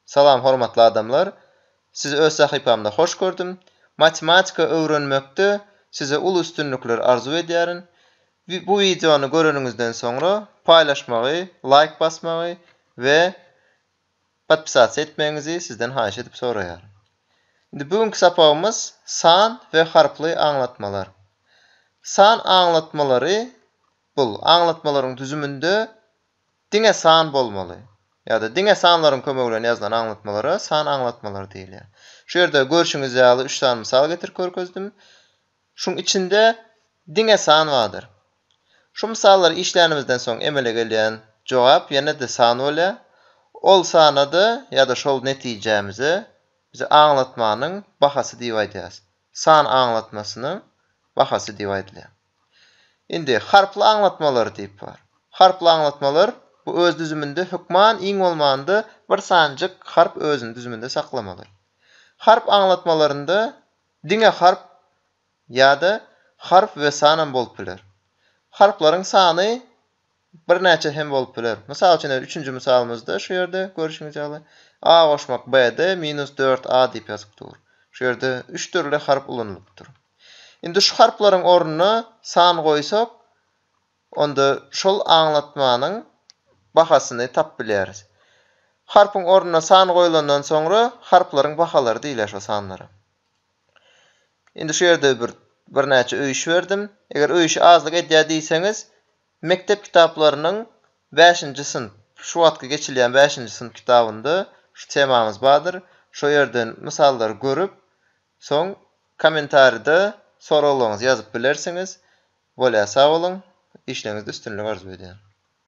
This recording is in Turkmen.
Salam hormatly adamlar! Sizi öz sahypamda hoş gördüm. Matematika öwrenmekde size uly üstünlikler arzuw edýärin. Bu wideony göreniňizden soňra paýlaşmagy, laýk basmagy we podpisasiýa etmegiňizi sizden haýyş edip soraýaryn. Indi bu günki sapagymyz san we harply aňlatmalar. San aňlatmalary bul aňlatmalaryň düzüminde Diňe san bolmaly. Ýa-da diňe sanlaryň kömegi bilen ýazylan aňlatmalara san aňlatmalary diýilýär. Şu ýerde görşüňiz ýaly üç sany mysal getirip görkezdim. Şuň içinde diňe san bardyr. Şu mysallary işlänimizden soň emele gelýän jogap ýene-de san bolýar. Ol sana-da ýa-da şol netijämize biz aňlatmanyň bahasy diýip aýdýarys. San aňlatmasynyň bahasy diýip aýdylýar. Indi, harply aňlatmalar diýip bar. Harply aňlatmalar, bu öz düzüminde hökman iň bolmanda bir sanjyk harp özüni düzüminde saklamaly. Harp aňlatmalarynda diňe harp ýa-da harf we sanam bolup biler. Harplaryň sany Birnäçe hem bolup biler. Mysal üçin edil üçünji mysalymyzda şu ýerde görüşiňiz ýaly A goşmak B-de minus dört A diýip ýazyp dur. Şu ýerde üç dürli harp ulanylypdyr. Indi şu harplaryň ornuna san goýsak onda şol aňlatmanyň bahasyny tap bilýäris. Harpyň ornuna san goýulandan soňra harplaryň bahalary diýilýär şo sanlara. Indi şu ýerde bir birnäçe öýüş berdim. Eger öýüşi azlyk edýär diýseňiz Mekdep kitaplarynyň bäşinji synp, şu wagtky geçilýän bäşinji synp kitabynda şu temamyz bardyr. Şo ýerden mysallary görüp, soň kommentarida soraglaryňyzy ýazyp bilersiňiz. Bolýa sag boluň. Işleriňizde üstünlik arzuw edýän.